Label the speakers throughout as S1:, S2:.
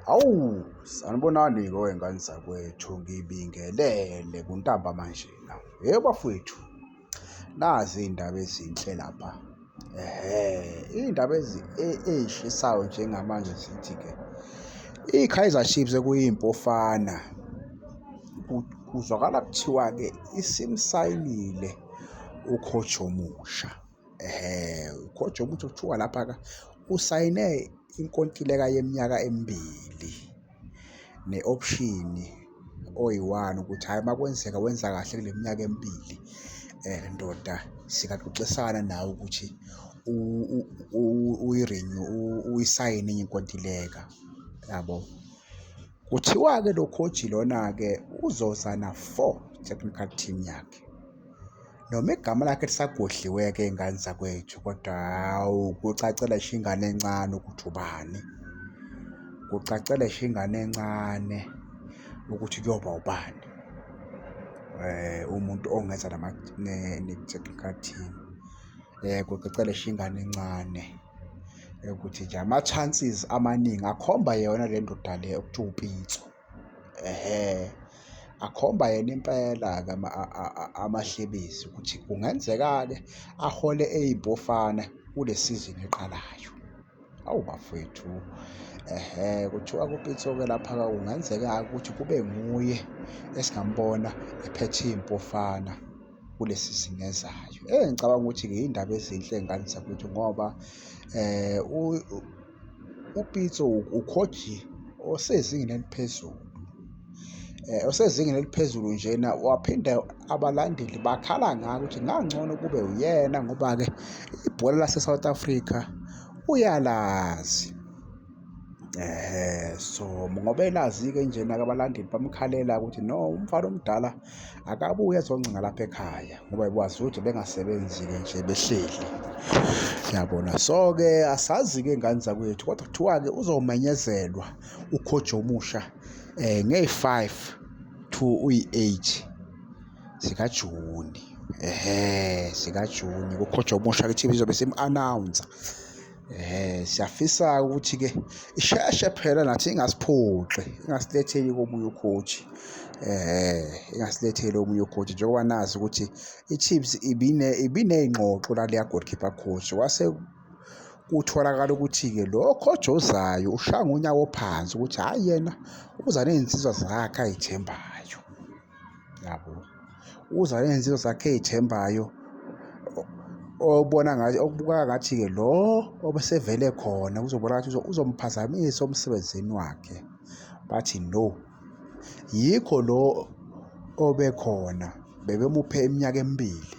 S1: Hawu, sanibonani-ke wey'ngane zakwethu, ngibingelele kuntamba manjena. Yebo bafwethu, nazi iy'ndaba ezinhle lapha. Ehhe, iy'ndaba ey'shisayo njengamanje zithi-ke, i-Kaizer Chiefs ekuyiMpofana, kuzwakala kuthiwa-ke isimsayinile u-coach omusha. ehe khoja ukuthi kuthiwa lapha-ka usayine inkontileka yeminyaka emibili ne-option oyi-one ukuthi hhayi uma kwenzeka wenza kahle kule minyaka emibili um ndoda singaxoxisana nawe ukuthi uyirinyu uyisayine enye inkontileka yabo kuthiwa-ke lo khoji lona-ke uzoza na-four technical team yakhe. noma igama lakhe lisagodliwe-ke ingane zakwethu kodwa hawu kucacela sho ingane encane ukuthi ubani kucacela sho ingane encane ukuthi kuyoba ubani eh umuntu ongenza nama ne-technical team eh kucacela sho ingane encane ukuthi nje ama-chances amaningi akhomba yona le ndoda le okuthiwa upitso Ehhe, akhomba yena impela-ke amahlebezi ukuthi kungenzeka-ke ahole eyimpofana kule sizini eqalayo. Awu bafwethu, ehhe, kuthiwa kuPitso-ke lapha-ke kungenzeka-ke ukuthi kube nguye esingambona ephethe iyimpofana kule sizini ezayo. Eyi, ngicabanga ukuthi-ke yiyindaba ezinhle ngani zakwethu ngoba um . UPitso ukhojile osezingeni eliphezulu eh, osezingeni eliphezulu njena waphinde abalandeli bakhala ngako ukuthi ngangcono kube uyena ngoba-ke ibhola lase-south africa uyalazi um so ngoba elazi-ke njena-ke abalandeli bamkhalela ukuthi no umfana omdala akabuye azoncenga lapha ekhaya ngoba ikwazi ukuthi bengasebenzi-ke nje behleli yabona so-ke asazi-ke ngane zakwethu kodwa kuthiwa-ke uzomenyezelwa ukhoji omusha um eh, ngeyi-five to uyi-eight zikajuni ehe zikajuni kukhoji omusha kuthiwa izobe simu-announsa Eh siyafisa ukuthi ke isheshe phela nathi ingasiphoxi ingasiletheli komunye ucoach eh ingasiletheli omunye ucoach njengoba nazi ukuthi iChiefs ibine ibineyingxoxo la leya goalkeeper coach wase kutholakala ukuthi-ke lo coach ozayo ushaya ngonyawo phansi ukuthi hhayi yena uza ney'nsizwa zakhe ay'thembayo yabo uza nezinto zakhe ey'thembayo obona ngathi okubukeka ngathi-ke lo obesevele khona kuzobona ngathi uzomphazamisa umsebenzini wakhe bathi no yikho lo obekhona bebemuphe iminyaka emibili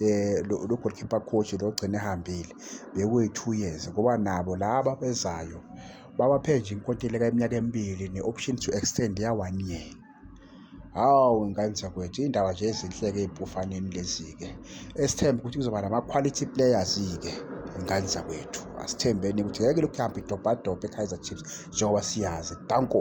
S1: eh lo goalkeeper coach lo gcine ehambile bekuyi 2 years ngoba nabo laba bezayo babaphe nje inkontileka iminyaka emibili ne option to extend ya 1 year Hawu ngane zakwethu iy'ndaba nje ezinhle-ke ey'mpofaneni lezi-ke esithembe ukuthi kuzoba nama-quality players-ke ngane zakwethu asithembeni ukuthi ngeke lokhu kuhambe idobhadobha e-kaizer chiefs njengoba siyazi danko